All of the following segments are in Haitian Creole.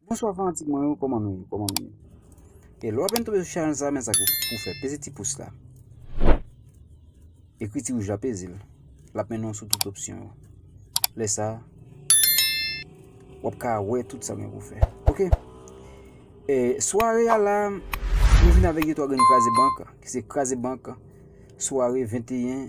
Bonswa fanatik mwen yo koman nou ye koman nou ye E lwa pen tobe sou chanel sa men sa pou fè peze ti pous la Ekri ti wouj la peze l lap mennen w sou tout opsyon yo lè sa wap ka wè tout sa gen pou fè ok E sware a la nou vin avèk yon 3 grenn kraze bank ki se kraze bank sware 21.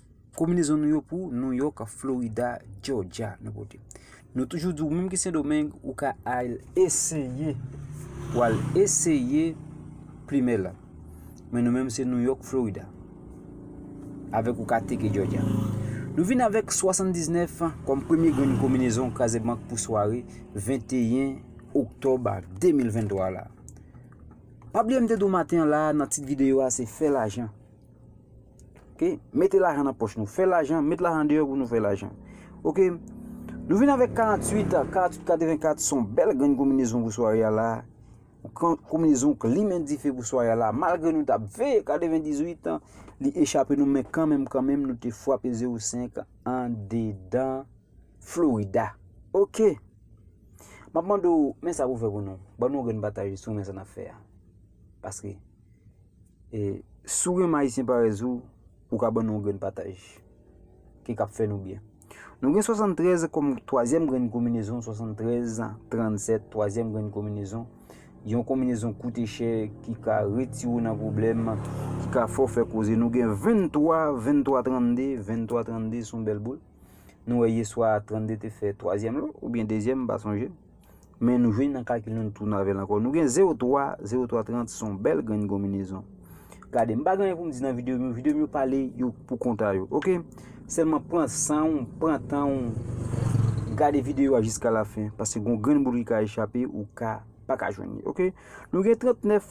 Kominezon nou yo pou New York, Florida, Georgia nou pote. Nou toujou di ou menm ki Sendomeng ou ka al eseye ou al eseye plimen la. Men nou menm se New York, Florida. Avèk ou ka teke Georgia. Nou vin avèk 79 kom premye grenn kominezon kraze bank pou sware 21 Oktob 2023 la. Pa bliye m te di ou maten la nan tit videyo a se fè lajan. Ok, mete lajan nan poch nou, fè lajan, mete lajan deyò pou nou fè lajan. Ok, nou vin avèk 48, 48, 84, son bèl grenn kominezon pou sware a la. Kominezon k limen dife pou sware a la, malgre nou tap veye 98, li echape nou men kanmenm kanmenm nou te fwape 05 an dedan Florida. Ok, map mande ou, men sa pou fè pou nou, ban nou yon grenn batay sou men sa nap fè a. Paske. E si w renmen Ayisyen parèz ou, ou ka ban nou yon grenn pataj. Ki ka fè nou byen. Nou gen 73 kòm twazyèm grenn konminezon, 73, 37, twazyèm grenn konminezon. Yon konminezon koute chè, ki ka retire w nan pwoblèm, ki ka fè w fè koze. Nou gen 23, 23, 32, 23, 32 se yon bèl boul. Nou wè yeswa 32 te fè twazyèm lò, oubyen dezyèm, m pa sonje. Men nou vini nan kalkil nou, nou tounen avè l ankò. Nou gen 0 3, 0 3 30 se yon bèl grenn konbinezon. Gade, m pa gen anyen pou m di nan videyo m yo. Videyo m yo pale yo pou konta yo, ok? Sèlman pran san ou, pran tan ou, gade videyo a jiska lafen. Paske gen yon grenn boul ki ka echape, ou ka pa ka jwenn li, ok? Nou gen 39.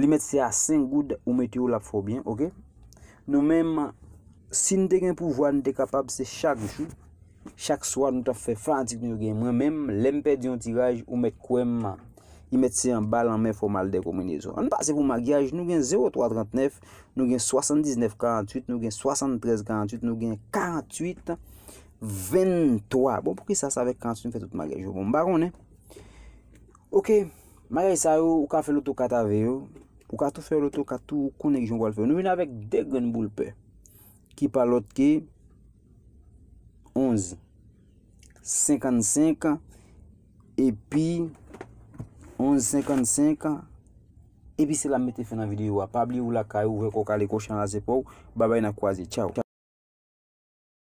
Li mèt se a 5 goud ou mete yo lap fè w byen ok. Nou menm si n te gen pouvwa n te kapab se chak jou, chak swa nou tap fè fanatik nou yo gen. Mwen menm lè m pèdi yon tiraj ou mèt kwè m li mèt se anba lanmè fò m al dekominezon. Ann pase pou magyaj nou gen 03 39 nou gen 79 48 nou gen 73 48 nou gen 48 23 bon poukisa sa avèk 48 m fè tout magyaj yo bon m pa konnen. Ok bagay sa yo ou ka fè loto kat ave yo ou ka tou fè loto kat tou ou konnen ki jan ou pral fè yo nou vin avèk 2 grenn boul pè ki pa lòt ke 11 55 epi 11 55 epi se la m mete fen nan videyo a pa bliye ou lakay ou ouvè kò w kale kò w chan al aze pa w babay n ap kwaze tchaw.